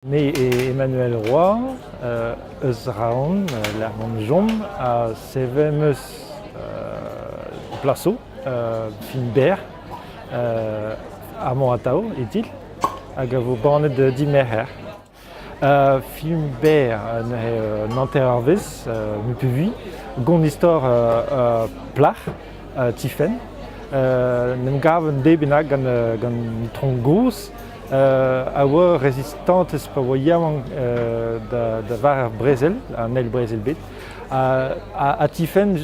Me eo Emmanuel Roy, eus Raon, lec'h mont chom, ha sevel 'm eus plaso fin berr amañ atav e titl hag a vo bannet dimerc'her. Film berr neuze an hanter eurvezh, me 'peus vui, gont istor plac'h. tifenn. en em gav un deiz bennak gant, gant un tronk gozh a oa resistantez pa oa yaouank da, da war ar brezel, an eil brezel bet. Ha, ha, tifenn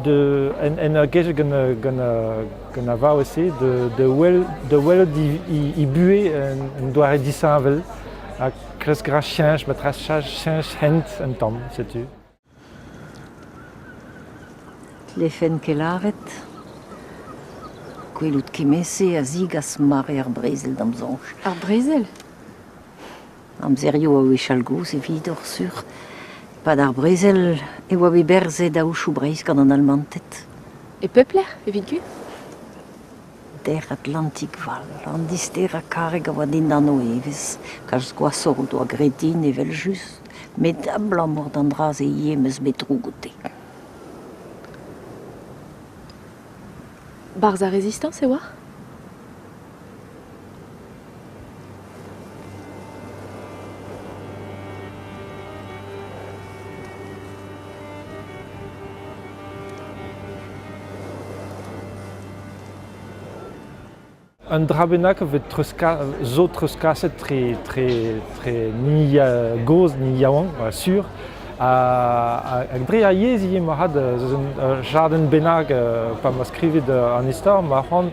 de, en, en a gej gant, gant, gant a vaouez-se de, de, wel, de welout he, buhez un, doare disheñvel ha kresk ra cheñch, ma tra cheñch hent un tamm, setu. Tlefent ket lâret. Gwelout kement-se a zigas mare ar brezel d'am soñj. Ar brezel? Amzerioù a wechall gozh evidoc'h sur. E-pad ar brezel e oa bet berzet aochoù Breizh gant an Almanted. E pep lec'h evit gwir? Der-Atlantik fall, an disterañ karreg a oa dindan o evezh, kalz gwashoc'h o doa graet din evel-just, met abalamour d'an dra-se ivez 'm eus bet droug oute. Barzh ar Rezistañs e oar ? Un dra bennak zo treuzkaset tre gozh, ni yaouank, sur. Hag dre ar yezh ivez, marc'had, eus un jardin bennak, pa ma skrivit an istor, ma c'hoant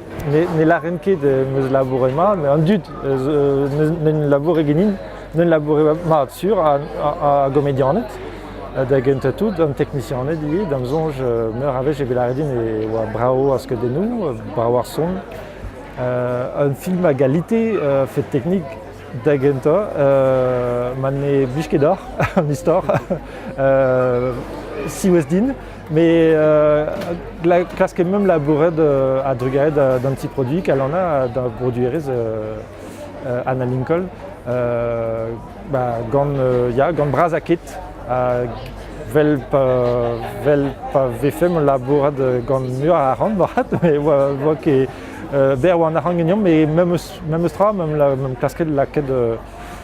ne lâren ket em eus labouret mat, met an dud n'en laboure genin, n'en laboure mat sur a gomedianed, da gentañ tout, an teknisianed ivez, da'm soñj meur a wech evit lâret din e oa brav ar skeudennoù, brav ar son. un film a galite fait technique da gentañ ma ne blij ket deoc'h an istor siwazh din Mais euh, klask emem labouret euh, a-drugaret d'an ti produit kalana d'un broduerez euh, euh, Anna Lincoln euh, bah, gant euh, ya gant bras a ket ha vel pa vel pa vefem labourat gant meur a ran bat me vo ket ber oa an arhang geniom me memes memes tra mem la mem klasket laket